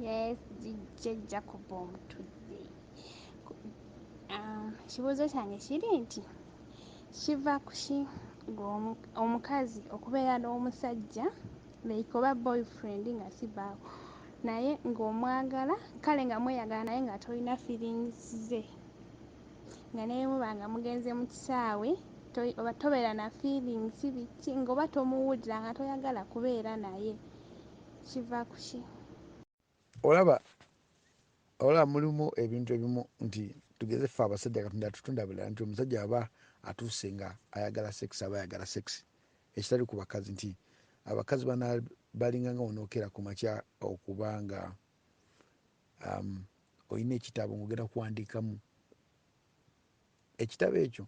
Yes, jijja Jacob omutudde. Um, ekibuuzo kyange kiri nti kiva kuki omukazi okubeera n'omusajja like oba boyfriend nga sibaawo naye ng'omwagala kale nga mweyagala naye nga tolina feelings ze nga nemuba nga mugenze mu kisaawe oba tobeera na feelings biki ngaoba tomuwulira nga toyagala kubeera naye kiva kuki? Olaba olaba mulimu ebintu ebimu nti tugeze ffe abasajja katonda atutonda bulala nti omusajja aba atuuse nga ayagala sex aba ayagala sex ekitali ku bakazi nti abakazi bana balinganga wonokera ku makya okuba nga um, olina ekitabo ngaogenda kuwandiikamu ekitabo ekyo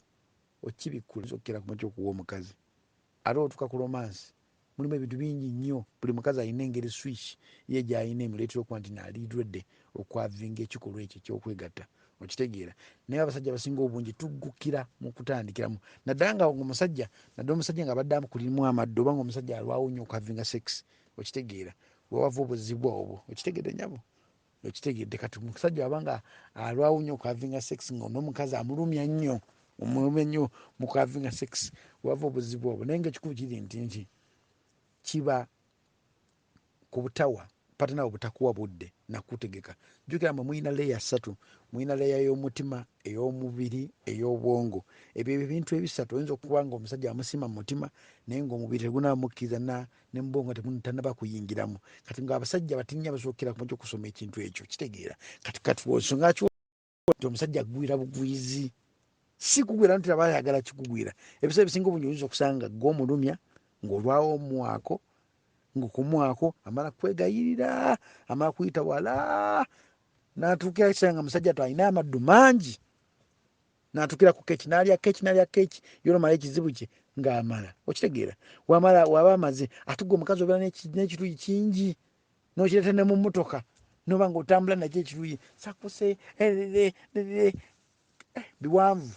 okibikkula okukera ku makya okuwa omukazi ate otuka ku romansi mulimu ebintu bingi nnyo. Buli mukazi alina engeri switch ye gy'alina emuleetera okuba nti nali ready okwavinga ekikolwa ekyo eky'okwegatta. Okitegeera? Naye abasajja abasinga obungi tuggukira mu kutandikiramu. Naddala nga ng'omusajja, naddala omusajja ng'abadde akulimu amaddu oba ng'omusajja alwawo nnyo okwavinga sex. Okitegeera? We wava obuzibu obwo. Okitegedde nnyabo? Okitegedde kati omusajja aba nga alwawo nnyo okuhavinga sex nga n'omukazi amulumya nnyo omulumya nnyo mu kuhavinga sex wava obuzibu obwo naye nga ekikulu kiri nti nti kiba ku butawa patanawe butakuwa budde nakutegeka jjukira mwe mulina leeya ssatu mulina leeya y'omutima ey'omubiri ey'obwongo ebyo ebintu ebisatu oyinza okuba nga omusajja amusiima mu mutima naye ngaomubiri tegunamukkiriza ne mubwo nga temutanaba kuyingiramu kati nga abasajja batinya basookera ku mujja okusoma ekintu ekyo kitegeera kati kati nsonga ki nti omusajja agwira bugwizi si kugwira nti aba ayagala kikugwira ebiseera ebisinga obungi oyinza okusanga gwe omulumya ng'olwawo omwako ng'okumwako amala kwegayirira amala kuyita wala natuukira kisaa nga musajja to alina amaddu mangi natukira ku keki nalya keki nalya keki yona mala ekizibu kye ng'amala okitegeera wamala waba amaze ate gwe omukazi obeera n'ekiruyi kingi nokireta ne mu mmotoka noba nga otambula nakyo ekiruyi sakuse eh, eh, eh, biwanvu